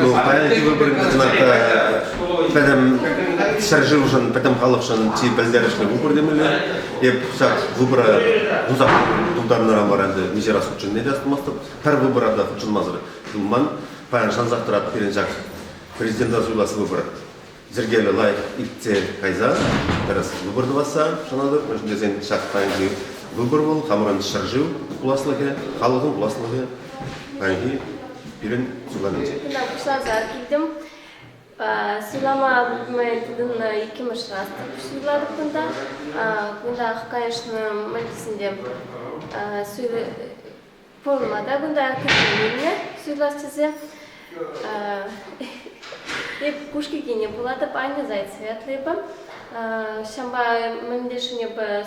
Ну, паян выбор пӗтӗм ҫӗршывшӑн, пӗтӗм халӑхшӑн чи пӗлтерӗшлӗ выбор темелле. Эп ҫак выбора тусах тултарнӑран вара ӗнтӗ миҫе раз хутшӑнни те хӑтӑлмастӑп. Пӗр выбора та хутшӑнмасӑр юлман. Паян шансах тӑратӑп пирӗн ҫак президента суйлас выбор йӗркеллӗ лайӑх иртсе кайса тӗрӗс выбор тӑвасса шанатӑп, мӗншӗн тесен ҫак паянхи выбор вӑл хамӑрӑн ҫӗршыв пуласлӑхӗ, халӑхӑн пуласлӑхӗ паянхи пирӗн суйланинче. Пуҫласа килтӗм. Суйлама май тытӑннӑ иккӗмӗш раз суйлатӑп кунта. Кунтах, конечно, мальтисенче пулма та кунта кӗтсе илнӗ суйлас тесе. И кушкикине пулатӑп, Анне зайт светлыйпа. Ҫампа мӗнле шунепа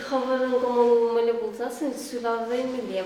хӑвӑрӑн кӑмӑлу мӗле пулсассӑн суйлав вӗренмелле.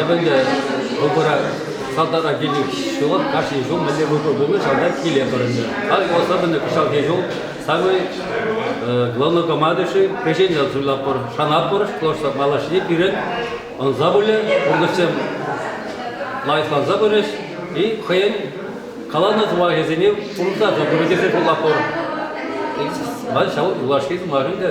Эпӗ ӗнтӗ вӑхӑра салтака килнӗ ҫулах кашни ҫул мӗнле вӑхӑр пулнӑ ҫавна киле пӑрӑннӑ. Халь пӑхса пынӑ кӑҫалхи ҫул самый главнокомандующий крещение суйлатпӑр, шанатпӑр, потому что малашне пирӗн ӑнса пулӗ, пурнӑҫсем лайӑхланса пырӗҫ и хӑйӗн каланӑ сӑмахӗсене пурнӑҫласа пырӗ тесе шутлатпӑр. Ҫав юлашки сӑмах ӗнтӗ.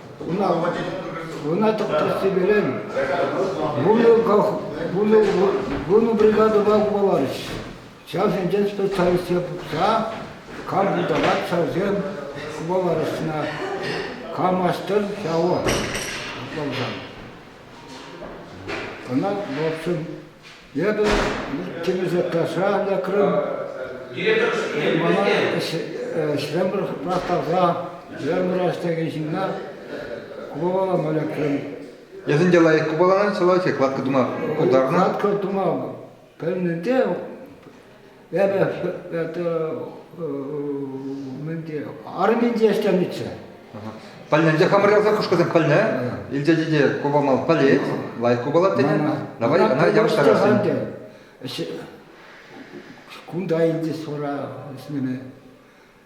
Ӑна тӑхтасси перен вунӑ бригадӑпа хупаларӗҫ. Ҫавсенчен специалистсем пухса карпуталак ҫавсем хупаларӗҫ ӑна. Камастер ҫавӑ ӑсӑлсан. Ӑна, в общем, Эпӗ кӗнӗ заказра лекрӗм. Мана ҫремӗр тӑраттарса ҫремӗраш текен ҫынна купалама лекрӗм. Эсӗн те лайӑх купаланать, сӑвать, кладка тума пултарнӑ? Кладка тума пӗлнӗ те Эпӗ арминче ӗҫленӗччӗ. Пӗлнӗ хамӑрялса хӑшкӑсем пӗлнӗ, илчече те купамал пӗлет, лайӑх купалать тенӗ. Давай ӑна явӑҫтарассин. Кунта илчӗҫ вара ӗҫлеме.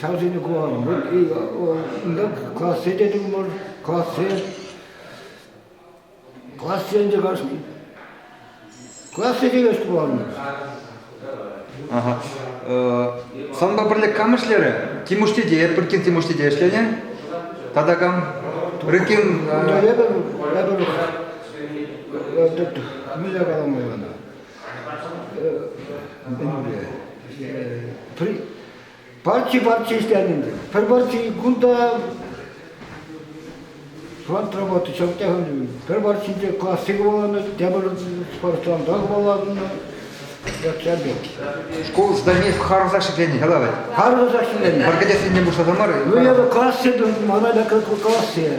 Ҫавсене курам. Унта классе те тумӑр, классе. Классе ӗнтӗ кашни. Классе теме пуланӑ. Ага. Санпа пӗрле кам ӗҫлерӗ? Тимуш тете, Туркин Тимуш тете ӗҫленӗ. Тата кам? Рыкин. Эпӗ, эпӗ, мӗнле каламалла? Партии партии ӗҫленӗ. Пӗр партии кунта фронт работы ҫакна хывнӑ. Пӗр партине классы хӑваланӑ, тепӗр спортзалта хӑваланӑ. Шкул зданийӗ харӑса ӗҫленӗ яла вӗт. Харӑса ӗҫленӗ. Пӗр кӗтессине пуҫласа мар. Ну, я классе, мана как классе.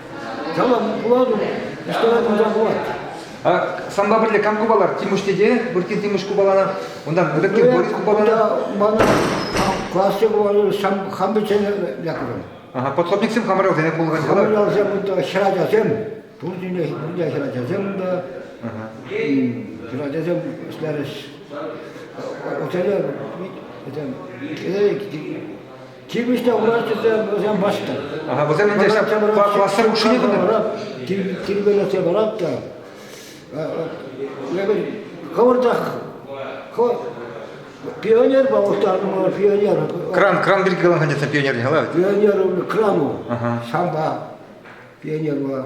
Калам, пулатӑн, ништӑран кунта пулать. Санпа пӗрле кам купалар? Тимуш тете, выртти Тимуш купалана, унтан выртти Борис купалана. Мана классе купалар, хам пӗччен лекрӗм. Подхобниксем хамӑралсене пулган ҫала. Хамӑралсем унта хӗрачасем, пурсене пурне хӗрачасем унта. Хӗрачасем ӗҫлерӗҫ. Укҫана, этем, Тивӗҫлӗ врач тесе вӗсем паҫтӑр. Ага, вӗсем ӗнтӗ классӑр хушшине кӑна. Тирпейлесе барак та. Хӑвӑртах пионер паллаштарма пионер. Кран, кран пирки каланӑ тетсе пионер дехала ведь? Пионер крану. Шамба. Пионер была.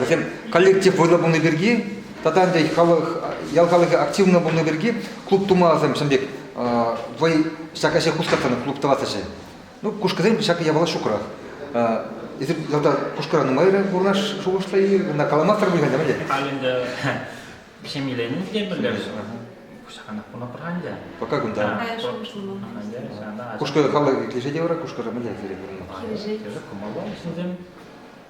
вӗсем коллектив вӑйлӑ пулни пирки тата ӗнтӗ халӑх, ял халӑхӗ активно пулни пирки клуб тума сем ҫын пек вӑй ҫак ӗҫе хускатнӑ клуб тӑвас ӗҫе. Ну, кушкӑсем ҫак япала ҫукрах. Эсир ялта кушкӑра нумайрах пурнаш шухӑшла-и? Кӑна каламастӑр пуль ӗнтӗ, Халь ӗнтӗ ҫемьеленӗ те пӗлтерӗшӗ. Кушаканах пулма пар ӗнтӗ. Пока кунта. Кушкӑ халӑх килӗшет те вара кушкӑра мӗнле сире пурӑнма? Килӗшет. Кумалла, ҫынсем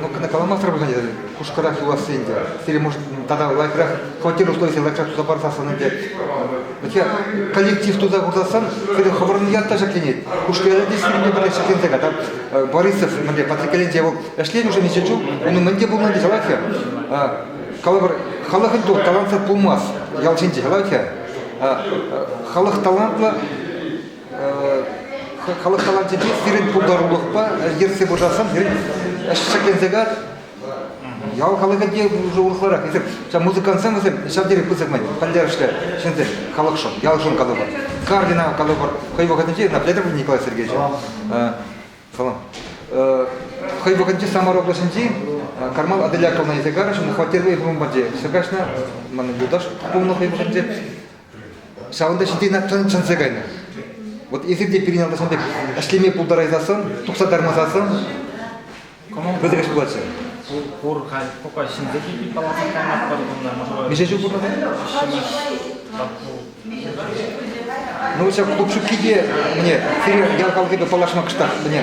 Ну, кӑна каламастӑр пулсан, хушкӑрах юласси ӗнтӗ. Сире, может, тата лайӑхрах хваттер условисем лайӑхрах туса парсассӑн ӗнтӗ. Вообще, коллектив туса курсассан, сире хӑвӑрӑн ят та ҫӗкленет. Хушкӑ ялӗнче сирӗнпе пӗрле ҫӗкленсе ката. Борисов мӗнле патрикелӗнче вӑл ӗҫлет уже ничего чух, унӑн мӗн те пулманди ҫалать-ха. Калӑпӑр, халӑхӑн ту талантсӑр пулмасть ял ҫинче, ҫалать-ха. Халӑх талантлӑ, халӑх таланчӗпе сирӗн пултарулӑхпа ертсе пырсассӑн сирӗн ӗҫ шикленсе каять. Ял халӑхӗ те уже урӑхларах. Эсир ҫав музыкантсем вӗсем ҫав тери пысӑк май пӗлтерӗшлӗ ҫынсем, халӑхшӑн, ялшӑн калӑпӑр. Кардина калӑпӑр. Хӑй вӑхӑтӗнче наблюдатор Николай Сергеевич. Салам. Хӑй вӑхӑтӗнче Самар облаҫӗнчи Кармал Аделяковна Исагаровичӑн хваттерпе бомбардир ҫыркаҫнӑ. Манӑн юлташ пулнӑ хӑй вӑхӑтӗнче. Ҫавӑнта ҫити Натшан чӑнса кайнӑ. Вот если те пирӗн алда ҫавӑн пек ӗҫлеме пултарайсассӑн, тухса тармасассӑн, пӗлтерӗш пулатчӗ. Пур, пур халь пока ҫынсем пирки каласа каймастпӑр кунта, может Миҫе ҫул пурӑнать? ҫимӗҫ тату. Ну, ҫав клуб ҫуккипе мне сире ял халӑхӗпе паллашма кӑштах, мӗне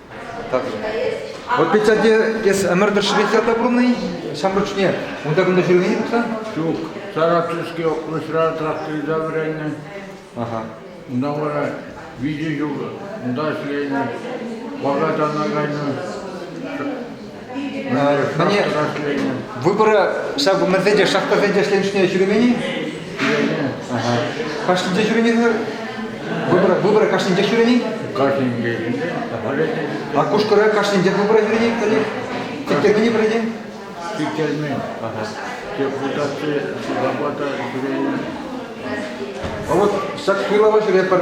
Так. Вот ведь эс ӗмӗртӗр Швеция тапрунный, ҫамрӑкшне унта-кунта ҫӳремен пулсан? Ҫук. Саратовский округра тракториста вӗреннӗ. Ага. Унта вара виҫӗ ҫул унта ӗҫленӗ. Ваката кайнӑ. Мӗне выбора ҫак мӗнсен те шахтасен те ӗҫленӗ ҫӳремен-и? Кашнинче ҫӳренӗ Выбора, выбора кашнинче ҫӳренӗ? Кашнинче. А Кушкӑра кашнинче выбора ҫӳренӗ каллех? Тиктермене пӗлетӗн? Тиктермен. Депутатсем ҫурапа та ҫӳренӗ. А вот ҫак суйлава ҫӳрепӗр.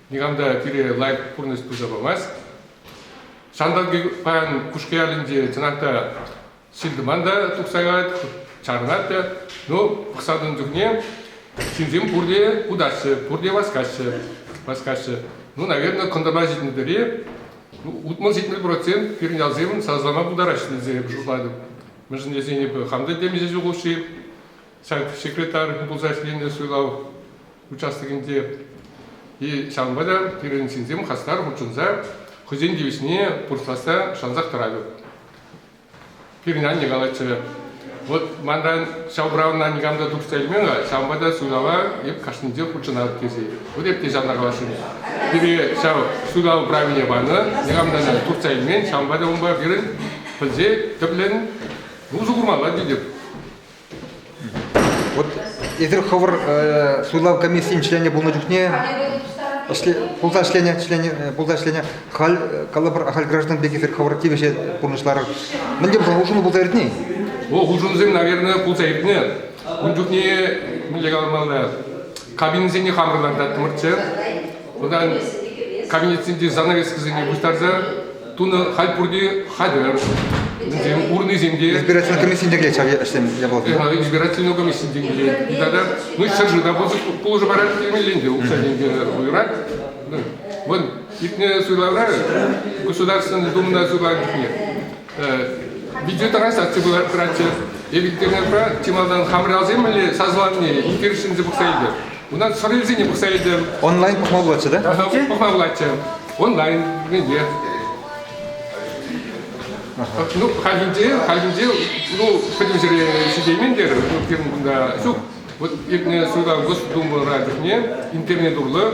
никам та пире лайӑх пурнӑҫ туса памасть. Ҫанталӑкӗ паян Кушкӑялӗнче чӑнах та ҫил-тӑман та тухса каять, чарӑнать та. Ну, пӑхсатӑн чухне ҫынсем пурте утаҫҫӗ, пурте васкаҫҫӗ. васкаҫҫӗ. Ну, наверное, кӑнтӑрпа ҫитнӗ тери ну, утмӑл ҫитмӗл процент пирӗн ялсем сасӑлама пултараҫҫӗ тесе эпӗ шутлатӑп. Мӗншӗн тесен эпӗ хам та темиҫе ҫул хушши ҫак секретарь пулса ӗҫленӗ суйлав участокӗнче. Ҫавӑнпа та пирӗн ҫынсем хастар хутшӑнса хӑйсен тивӗҫне пурнӑҫласса шансах тӑратӑп. Пирӗн анне калатчӗ, вот манран ҫав правӑна никам та тухса илмен, ҫавӑнпа та суйлава эп кашнинче хутшӑнатӑп тесе. Вот эп те ҫавна каласшӑн. Пире ҫав суйлав правине панӑ, никам та тухса илмен, ҫавӑнпа та унпа пирӗн пӗлсе тӗплӗн усӑ курмалла тетӗп. Вот эсир хӑвӑр суйлав комиссийӗн членӗ пулнӑ чухне пулса ӗҫленӗ члене пулса ӗҫленӗ халь калӑпӑр ахаль граждан пек эсир хӑвӑр тивӗҫе пурнӑҫларӑр мӗн те пулсан улшӑну пулса иртни? Ку улшӑнусем, наверное, пулса иртнӗ. Ун чухне мӗнле каламалла? Кабинӑсене хамӑр лартаттӑмӑрччӗ. вӑтам кабинетсенчи занавескӑсене пуҫтарса тунӑ халь пурте хатӗр. Вӗсем урнисем те. Избирательная комиссийӗн те килет ҫав ӗҫсем япаласем. Избирательная комиссийӗн те килет. Тата ну ҫӗршыв та пулӑшу парать темелленте укҫа тенкӗ уйӑрать. Вон иртнӗ суйлавра Государственная Думӑна суйланӑ чухне видеотранслякци пыратчӗ. Ветеринарпа чи малтан хамӑралсем мӗнле сасӑланине интересленсе пӑхса илтӗм. Унтан сӑрӑлсене пӑхса илтӗм. Онлайн пӑхма пулатчӗ, да? Пӑхма пулатчӗ. Онлайн, мӗнле. Ну, хальхинче, хальхинче, ну, пӗтӗм ҫӗре ҫитеймен тер, ну, пирӗн кунта ҫук. Вот иртнӗ суйлав Госдумӑра чухне интернет урлӑ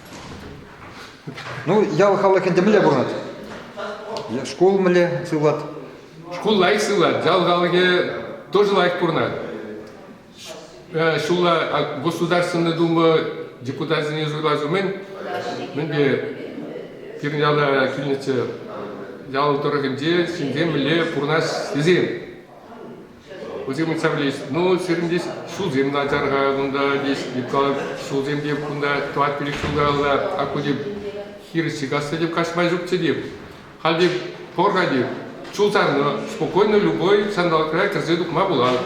Ну, ял халӑх ӗнтӗ мӗнле пурӑнать? Шкул мӗнле сывлать? Шкул лайӑх сывлать, ял халӑхӗ тоже лайӑх пурӑнать. Э, ҫулла Государственная Дума депутатсене суйлас умӗн мӗнпе пирӗн яла килнӗччӗ ял тӑрӑхӗнче ҫынсем мӗнле пурӑнас тесен Кусем ыйтса пӗлӗҫ. Ну, сирӗн тес ҫулсем начар-ха кунта, тес Микка ҫулсем те кунта тӑват-пилӗк ҫул каялла акку теп хирӗҫ ҫыхасса теп каҫма ҫукчӗ теп. Халь теп пор-ха теп. Чул сарнӑ, спокойно любой сандалӑкра кӗрсе тухма пулать.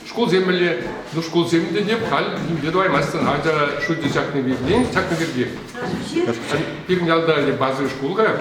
Шкулсем мӗнле? Ну, шкулсем те теп, халь нимле тӑваймастӑн. Ача шучӗ чакнӑ пиртен, чакнӑ пирте. Пирӗн ялта базовый шкул-ха.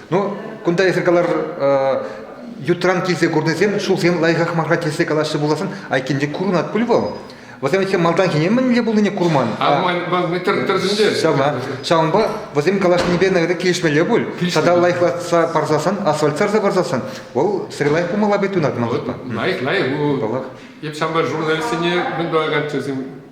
Ну, кунта эсир калар, ютран килсе курнисем ҫулсем лайӑхах мар тесе калаҫҫӗ пуласӑн, айккинче курӑнать пуль вӑл. Вӗсем эти малтанхине мӗнле пулнине курман. А тӗрӗсне ҫавна. Ҫавӑнпа вӗсем калаҫнипе наверное килӗшмелле пуль. Тата лайӑхлатса парсасан, асфальт сарса парсасан, вӑл сире лайӑх пулмалла пек туйӑнать ман шутпа. Лайӑх, лайӑх. Паллах. Эп ҫампа журналистсене мӗн тӑваканччӗ,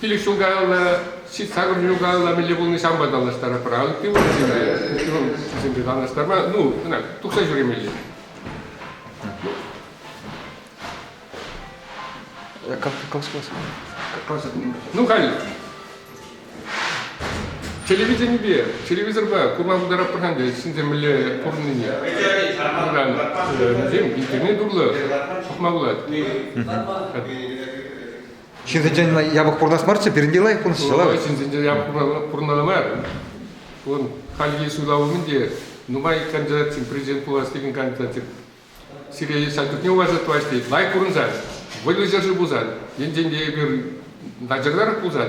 Пилӗк ҫул каялла, сакӑр ҫул каялла мӗнле пулни санпа танлаштарӑпӑр. А ытти вӑрҫӑра ывӑлсемпе танлаштарма, ну, ӑна тухса ҫӳремелле. Ну, халь телевиденипе, телевизорпа курма пултаратпӑр-ха ӗнтӗ ҫынсем мӗнле пурӑннине. Куран, интернет урлӑ пӑхма пулать. Ҫитӗнчен япӑх пурӑнас марччӗ, пирӗнте лайӑх пурӑнсчӗ, ла? Ҫитӗнчен япӑх пурӑнмалла мар. Вон хальхи суйлав умӗн те нумай кандидатсем президент пулас текен кандидатсем сире ҫак чухне улашса тӑваҫҫӗ. Лайӑх пурӑнсан, вӑйлӑ ҫӗршыв пулсан, енчен те эпир начарларах пулсан,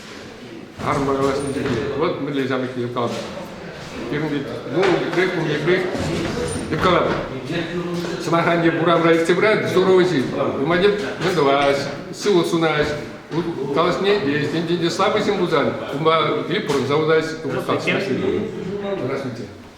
Арӑм калаҫнинче те вӑл мӗнле ҫамрӑкне юпталатӑп. Пирӗн вӗт, ну, пек, кунне пек юпталатӑп. Сӑмахран, те урамра иртсе пырать здоровый ҫын. Умадет вӑтӑлаҫ, сывлӑх сунать. Калаҫни е ӗҫтенчен те слабый ҫын пулсан, унпа пирӗн пурӑнса утать, калаҫмаҫҫӗ.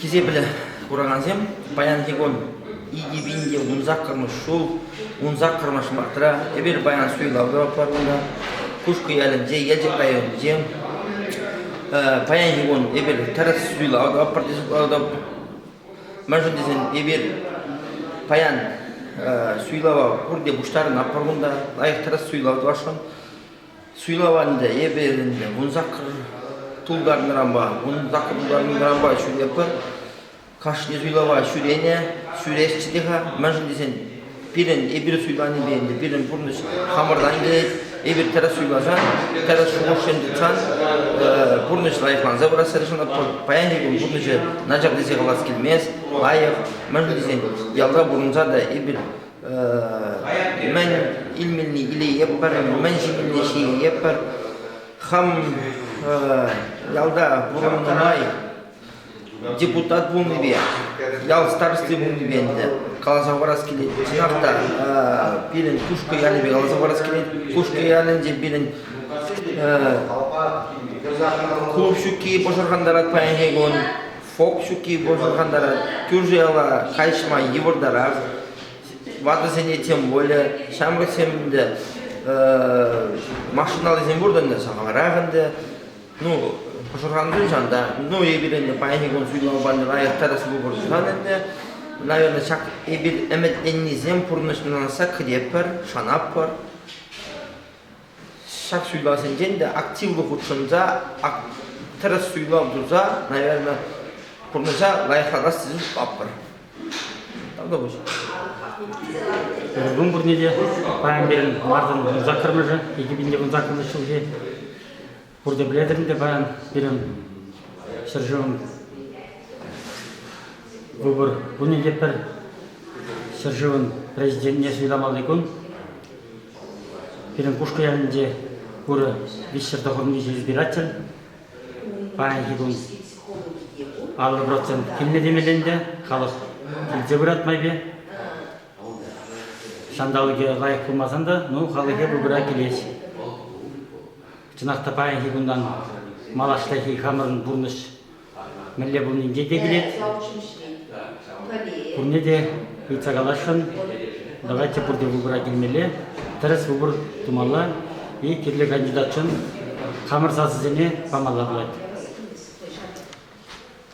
Хисеплӗ куракансем, паянхи кун икӗ пин те ун саккӑрмӗш ҫул, ун саккӑрмӗш мартра эпир паян суйлавра кунта, Кушкӑ ялӗнче, Елчӗк районӗнче. Паянхи кун эпир тӗрӗс суйлав таппӑр Мӗншӗн тесен эпир паян суйлава пурте пуҫтарӑнатпӑр кунта, лайӑх тӗрӗс суйлав тӑвасшӑн. Суйлава ӗнтӗ эпӗ ӗнтӗ вун сакӑр тултарнӑранпа, вун сакӑр тултарнӑранпа ҫӳрепӗр. Кашни суйлава ҫӳренӗ, ҫӳресчӗ те-ха. Мӗншӗн тесен пирӗн, эпир суйланипе ӗнтӗ пирӗн пурнӑҫ хамӑртан килет. Эпир тӗрӗс суйласан, тӗрӗс шухӑшсем тытсан пурнӑҫ лайӑхланса пырас тӑрӑшӑнӑр. Паянхи кун пурнӑҫӗ начар тесе калас килмест, лайӑх. Мӗншӗн тесен ялта пурӑнса та эпир Мӗн илмелли илейӗпӗр, мӗн ҫимелли ҫийӗпӗр. Хам ялта пурӑннӑ май депутат пулнипе, ял старости пулнипе ӗнтӗ каласа хӑварас килет. Чӑнах та пирӗн Кушкӑ ялӗпе каласа хӑварас килет. Кушкӑ ялӗнче пирӗн клуб ҫукки пӑшӑрхантарать паянхи кун. Фок ҫукки пӑшӑрхантарать, кӳршӗ-яла хайҫма йывӑртарах. Ватӑсене тем пулӗ. Ҫамрӑксем ӗнтӗ машиналисем пур ӗнтӗ сахалрах ӗнтӗ. Ну, пӑшӑрханусем ҫав та. Ну, эпир ӗнтӗ паянхи кун суйлава панӑ лайӑх тӑрӑс пулӑпӑр сан ӗнтӗ. Наверное, ҫак эпир ӗмӗтленнисем пурнӑҫ нанса кӗтетпӗр, шанатпӑр. ҫак суйлавсенчен те активлӑ хутшӑнса тӗрӗс суйлав туса, наверное, пурнӑҫа лайӑхлатас тесе шутлатпӑр. Тавта пуҫ. Думбурне те паян берен марзан унсаккӑрмӑшӗ, 2019 ҫулхи Пурте пӗлетӗр ӗнтӗ паян пирӗн ҫӗршывӑн выбор кунӗ те пӗр ҫӗршывӑн президентне суйламалли кун. Пирӗн Кушкӑ ялӗнче пурӗ виҫҫӗр тӑхӑрмиҫӗ избиратель. Паянхи кун аллӑ процент килнӗ темелле ӗнтӗ, халӑх илсе пырать майпе. Ҫанталӑкӗ лайӑх пулмасан та, ну, халӑхе пурпӗрех килет. Чӑнах та паянхи кунтан малашнехи хамӑрӑн пурнӑҫ мӗнле пулнинче те килет. Пурне те ыйтса каласшӑн. Давайте пурте выбора килмелле, тӗрӗс выбор тумалла. И кирлӗ кандидатшӑн хамӑр сасӑсене памалла пулать.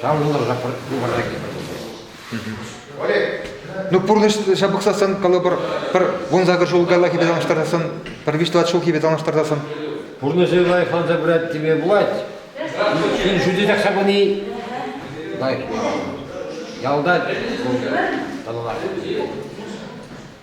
Таврӑнӑрха хыпарса килме Ну, пурнӑҫ ҫапӑхсассӑн, калӑпӑр, пӗр вун сакӑр ҫул каяллахи танлаштарсассӑн, пӗр виҫ-тӑват ҫулхипе танлаштартассӑн. Пурнӑҫӗ лайӑхланса пырать теме пулать. Ун шутӗнех ҫапӑни лайӑх. Ялта вӑл тӑлӑнать.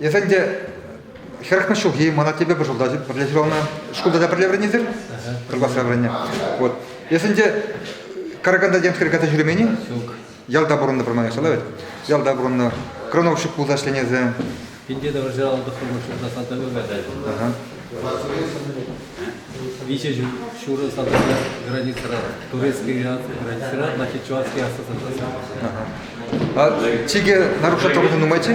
Эсӗ ӗнтӗ хӗрӗхмӗш ҫулхи, мана тепе пӑшӑлтатчӗ. Пӗрле ҫуралнӑ шкулта та пӗрле вӗреннисем, пӗр класра вӗреннӗ. Вот. Эсӗ ӗнтӗ Караканта темскер кайса ҫӳремен-и? Ҫук. Ялта пурӑннӑ пӗр манӑҫлӑ вӗт. Ялта пурӑннӑ. Крановщик пулса ӗҫленесӗ. Пинте тӑвӑрҫа аллӑ тӑххӑрлӑх ҫурта салтака каҫаҫҫӗ. Виҫӗ ҫурӑ салтака границӑра, турецкий границӑра, значит, чувашский асӑсӑр тӑсӑ. чикӗ наружа тӑрӑху нумайччӗ?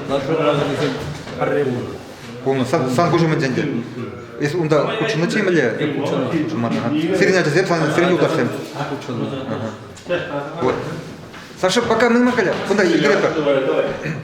Наружа тӑрӑхунисем пӗрре пулнӑ. Пулнӑ. Сан, сан куҫу мӗнччӗ ӗнтӗ? Эс унта хутшӑннӑччӗ мӗнле? Хутшӑнман. Сирӗн ачасем, санӑн, сирӗн юлташсем? Хутшӑннӑ. Вот. Саша, пока мы каля. Кунта йӗретпӗр.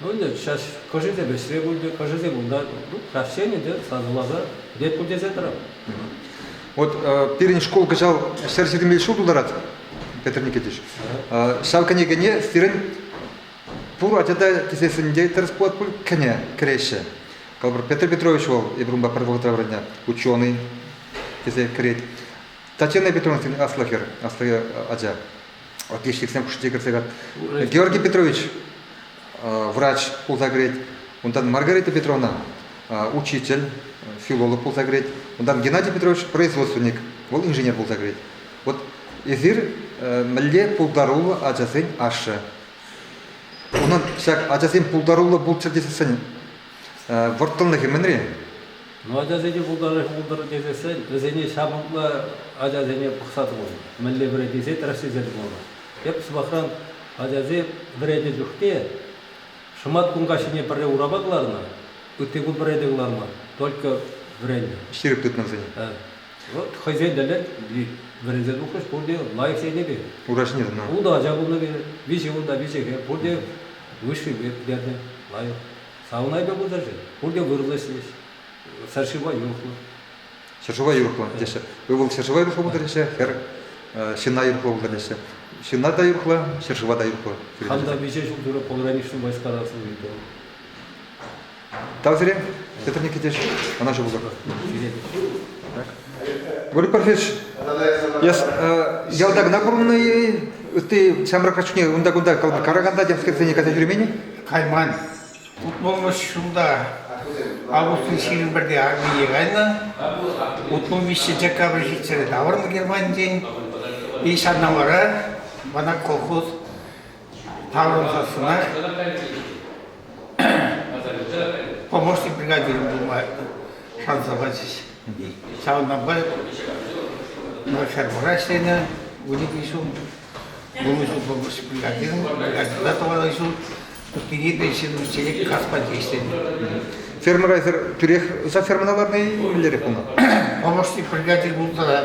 Ну ӗнтӗ ҫаҫ хӑшӗсем ӗҫре пулчӗ, хӑшӗсем унта. Ну, краҫҫын ӗнтӗ сасӑласа пек пуль тесе тӑрам. Вот пирӗн шкул кӑҫал ҫӗр ҫитӗнмелли ҫул тултарать, Петр Никитич. Ҫав кӗнекене сирӗн пур ачата кисессинче тӗрӗс пулать пуль кӗнӗ кӗреҫҫӗ. Калӑпӑр, Петр Петрович вӑл эпир пӗр вӑхӑтра вӗреннӗ ученый тесе кӗрет. Татьяна Петровна сирӗн аслӑ хӗр, аслӑ ача. отличниксем хушшинче кӗрсе каять. Георгий Петрович врач пулса кӗрет, унтан Маргарита Петровна учитель, филолог пулса кӗрет, унтан Геннадий Петрович производственник, вӑл инженер пулса кӗрет. Вот эсир мӗнле пултаруллӑ ачасен ашшӗ. Унӑн ҫак ачасен пултаруллӑ пулччӑр тесессӗн вӑрттӑнлӑхӗ мӗнри? Ну, ачасене пултарать пултӑр тесессӗн вӗсене ҫавӑнтла ачасене пӑхса тупӑн. Мӗнле вӗрентесе тӑрассисем пулнӑ. Тӗп сӑмахран, ачасем вӗреннӗ чухне шӑматкун каҫхине пӗрре урапа кӑларнӑ, ытти кун пӗрре те кӑларман, только вӗреннӗ. Ҫирӗп тытнӑ вӗсене. Вӑт хӑйсен тӗллӗн вӗренсе тухрӗҫ пурте лайӑх енӗпе. Ура ҫине тӑнӑ. Ултӑ ача пулнӑ, виҫӗ унта, виҫӗ хӗр, пурте лыҫрипе пӗтернӗ лайӑх. Савнайпа пытарчӗ. Пурте вӑрлӑ ӗҫлӗҫ. Ҫӗршыва юрӑхлӑ. Ҫӗршыва юрӑхлӑ теҫҫӗ. Ывӑл ҫӗршыва юрӑхлӑ пултараҫҫӗ, хӗр ҫынна юрӑхлӑ пултараҫҫӗ. Ҫынна та юрӑхлӑ, ҫӗршыва та юрӑхлӑ. Хам та виҫӗ ҫул тӳрӗ пограничнӑй ваҫкарасӑн ыйтӑм. Тав сире, Петр Никитич, ӑна ҫу пултӑр. Ҫӳретӗҫ. Говорю профессор, я ялта кӑна пурӑннӑ-и? Ытти ҫамрӑк ачусене унта-кунта караканта тем скрепсене кайса ҫӳремен-и? Кайман. Утмӑлмӗш ҫулта Августин ҫирӗм пӗрте армие кайнӑ. Утмӑлмиҫҫӗ декабрь ҫитсе таврӑннӑ Германинчен. И ҫавна вара мана колхоз Таврӑнсассӑна помощник бригадирӗм пулма шанса пачӗҫ. Ҫавӑнтанпа фермӑра ӗҫленӗ 12 ҫул. 20 ҫул помощник бригадиром, бригадирла тӑванлӑ ҫул. Кӗтни пенсине чечек каспанче ӗҫленӗ. Фермӑра эсир тӳрех за фермӑна ларнӑ-и? Мӗнлерех пулнӑ? Помощник бригадир пулнӑ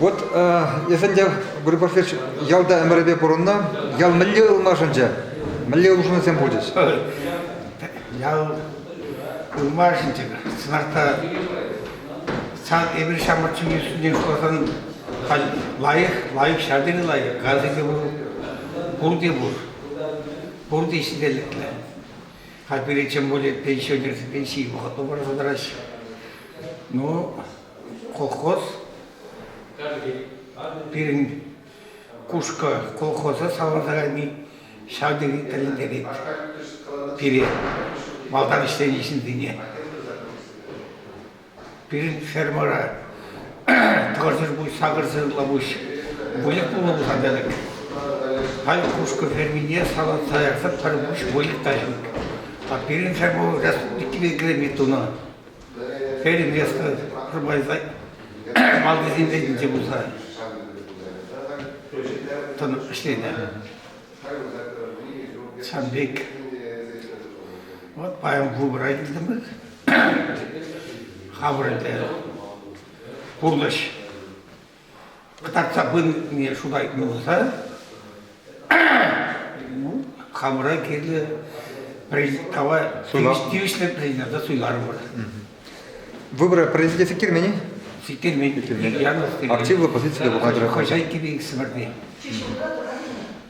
Вот эсӗ те, Григорий Васильевич, ялта ӗмӗрӗпе пурӑннӑ. Ял мӗнле ылмашӑнчӗ? Мӗнле улшӑнусем пулчӗҫ? Ял ылмашӑнчӗ. Сӑнарта эпир ҫамрӑк ҫын йышшине каласан лайӑх, лайӑх ҫар тери лайӑх. Газӗ те пур, пурте пур. Пурте ҫителӗклӗ. Хальпире тем более пенсионерсем пенсие вӑхӑтлӑ параса тӑраҫҫӗ. Ну, Колхоз пирӗн Кушкӑ колхоза савӑнтарайми ҫав тери тӗлӗнтерет пире, малтан ӗҫленӗ ҫынсене. Пирӗн фермӑра тӑкӑрсӑр-пуҫ, сакӑрсӑрла пуҫ выльӑх пулма пушантарать. Халь Кушкӑ фермине салатса ярса пӗр пуҫ выльӑх та ҫук. А пирӗн ферма республикипе килӗме тунӑ. Хӗрӗ Леска пӗрмайса малтисен ретӗнче пулса тӑнӑ ӗҫленӗ. Сан пек. Вот паян клубра килтӗмӗр. Хаврӑль те пурнӑҫ Кӑтартса пынине шута тытса ну, хамӑра кирлӗ тава тивӗҫлӗ президента суйларӑмӑр. Выборы президента сиктермени? Сиктермен. Активлӑ позицилле пулнӑ. Хозяйки бейсмӗрди.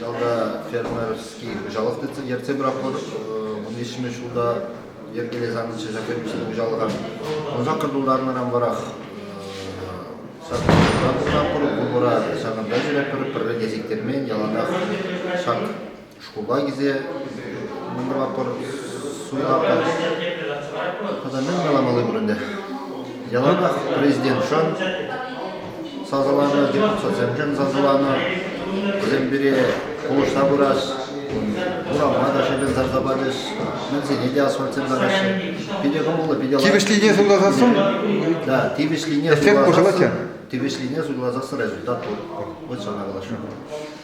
Ялта фермерский хуҫалӑх ертсе пыратпӑр. Вун виҫҫӗмӗш ҫулта йӗркелес анчӗ ҫак фермерский хуҫалӑха. Ӑсаккӑр тултарнӑран варах саппӑр, пулӑра ҫакӑнта ҫӳретпӗр, пӗрле те сиктермен, яланах ҫак шкула килсе мӑнтӑрма пӑр суйлатпӑр. Тата мӗн каламалли пур ӗнтӗ? Яланах президентшӑн сасӑланӑ, депутатсемшӗн сасӑланӑ. Вӗсем пире пулӑшса пырас, урама та шӗкӗл сарса пачӗҫ, мӗнсене те асфальтсем тӑраҫҫӗ. Питӗ кӑмӑллӑ, питӗ лайӑх. Тивӗҫлине суйласассӑн? Да, тивӗҫлине суйласассӑн. Тивӗҫлине суйласассӑн результат пур. Вот что надо было.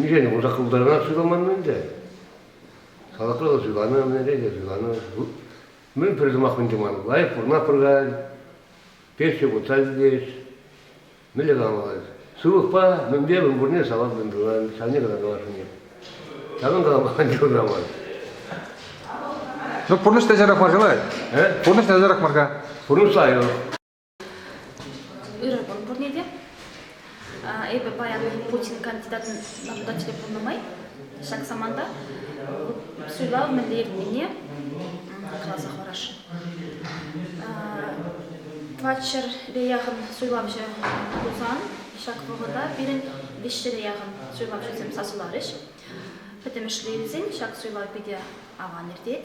Миҫе вырса хывтарма суйламан ӗнтӗ. Салатра та суйланӑ, ӗнере те суйланӑ. Мӗн пӗр сӑмах мӗн туман. Лайӑх пурӑна пыркать, пенсие путса ҫитет. Мӗнле каламалла? Сывлӑхпа мӗнпе мӗн пурне салат мӗн тунан, ҫавне кӑна каласшӑн Ҫакӑн калама те юраман. Ну, пурнӑҫ те ҫарах мар-ха, Пурнӑҫ те ҫарах мар-ха. Пурнӑҫ лайӑх. Ырӑ кун пурне те. Эпӗ паян Путин кандидатӑн закончили пулнӑ май ҫак саманта суйлав мӗнле иртнине каласа хӑварасшӑн. Тватҫӗрпе яхӑн суйлавҫӑ пулсан ҫак вӑхӑта пирӗн виҫҫӗре яхӑн суйлавҫӑсем сасӑларӗҫ. Пӗтӗмӗшле илсен ҫак суйлав питӗ аван иртет.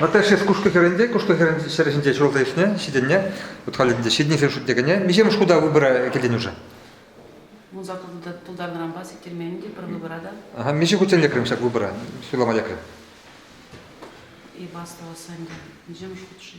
Наташа кушкӑ хӗрӗнче кушкӑ хӗрӗн ҫӗр ҫинче ҫуралса ӳснӗ, ҫитӗннӗ. Вут халӗ ӗнтӗ ҫитӗннисен шутне кӗнӗ. Миҫемӗш хута выбора кӗленӳшӗ? Мунса тултарнӑранпа сиктермен те пӗр выбора та. Ага, миҫе хутчен лекрӗм ҫак выбора? Суйлама лекрӗм. Эп астӑвас ӗнтӗ. Миҫемӗш хут-ши?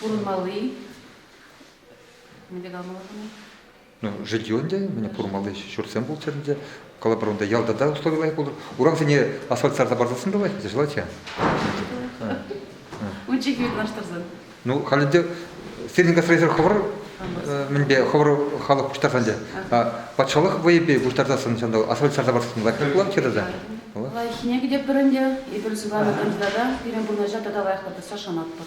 Пурӑнмалли мӗнле калама Ну, жилье ӗнтӗ, мене пурмалли ҫуртсем пулччӑр ӗнтӗ. Калӑпӑр унта ялта та услови лайӑх пулӑр. Урамсене асфальт сарса парсассӑн та лайӑх желательно. Лучше вырнаҫтарсан. Ну, халь ӗнтӗ сирӗн гастрольсӗр хӑвӑр мӗнпе хӑвӑр халӑх пуҫтарсан ӗнтӗ. Патшалӑх вӑйӗпе пуҫтартассӑн ҫанталӑк асфальт сарса парсассӑн лайӑх пулать тата? Лайӑххине кӗтетпӗр ӗнтӗ. Эпир сыванакан йытата пирӗн пурнӑҫа тата лайӑхлатасса шанатпӑр.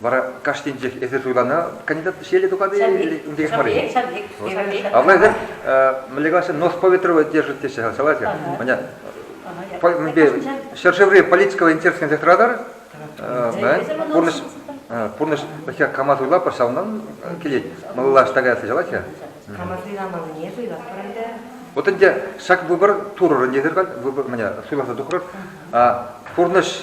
Вара кашнинчех эсир суйланӑ кандидат ҫеле тухать-и унти мар и А влаҫ мӗнле калаҫҫӗ, нос поветровый держит теҫҫӗ, согласен? Меня ҫӗршыври политикого интерес кӗнсе тӑратар, пурнӑҫ пурнӑҫ вӗҫе кама суйлапӑр, ҫавӑнтан килет. Малалла штагаясса ҫалать-ха? Камасен амалне суйлатпӑр ӗнтӗ. Вот ӗнтӗ ҫак выбор турӑрӑн десертан выбор меня суйласа тухрӑр. Пурнӑҫ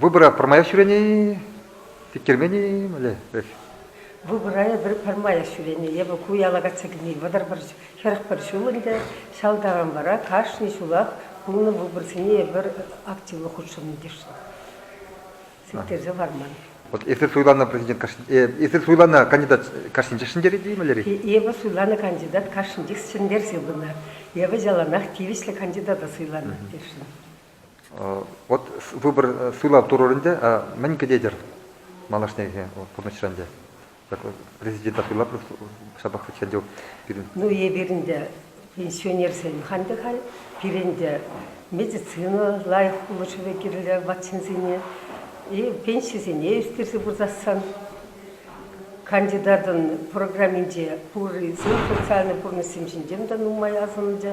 Выбора пӗрмаях ҫӳрени, тиктермени мӗнле? Выбора эпир пӗрмаях ҫӳрени. Эпӗ ку яла кайса килни вӑтӑр пӗр хӗрӗх пӗр ҫул ӗнтӗ. Ҫав таран вара кашни ҫулах пулнӑ выборсене эпир активлӑ хутшӑннӑ йышлӑх. Сиктерсе хӑварман. Вот если суйланӑ президент если суйланӑ кандидат кашнинчех ҫӗнтерет-и мӗнлерех? Эпӗ суйланӑ кандидат кашнинчех ҫӗнтерсе пынӑ. Эпӗ яланах тивӗҫлӗ кандидата суйланӑ тесшӗн. Вот выбор суйлав турӑр ӗнтӗ, мӗн кӗтетӗр малашнехи пурнӑҫра ӗнтӗ? Президента суйлаплӑ ҫапах хӑть те пирӗн. Ну, эпир ӗнтӗ пенсионерсем халь те халь. Пирӗн те медицина лайӑх пулӑшӑвӗ кирлӗ ватченсене. Пенсисене ӳстерсе пырсассан кандидатӑн программинче пуррисен социальнӑй пурнӑҫсем ҫинчен те нумай асӑннӑ.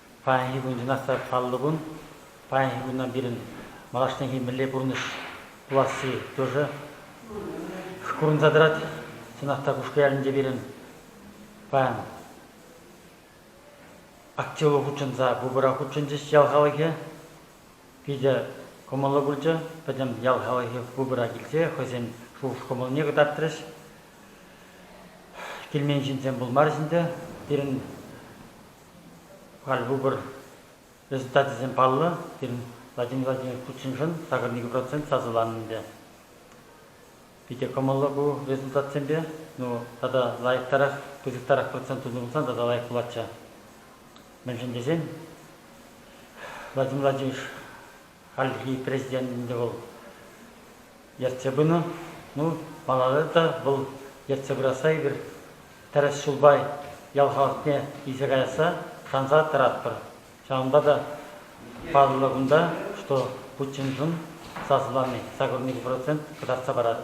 Паянхи куншӑнах та паллӑ кун. Паянхи куна пирӗн малашнехи мӗнле пурнӑҫ пуласси кӳршӗ курӑнса тӑрать. Чӑнах та Кушкӑ ялӗнче пирӗн паян актива хутшӑнса пупӑра хутшӑнчӗҫ ял халӑхӗ. Питӗ кӑмӑллӑ пулчӗ. Пӗтӗм ял халӑхӗ пупӑра килсе хӑйсен шухӑш-кӑмӑлне кӑтартрӗҫ. Килмен ҫынсем пулмарӗҫ ӗнтӗ. Пирӗн Халь выбор результачӗсем паллӑ пирӗн Владимир Владимирович Путиншӑн сакӑрникӗ процент сасӑланӑ ӗнтӗ. Питӗ кӑмӑллӑ ку результатсемпе. Ну, тата лайӑхтарах, пысӑктарах процент тунӑ пулсан тата лайӑх пулатчӗ. Мӗншӗн тесен Владимир Владимирович хальхи президент ӗнтӗ вӑл ертсе пынӑ. Ну, малалла та вӑл ертсе пырасса эпир тӗрӗс ҫулпа ял халӑхне илсе каясса шанса тӑратпӑр. Ҫавӑнпа та паллӑ кунта, что Путиншӑн сасӑлани сакӑр процент кӑтартса парать.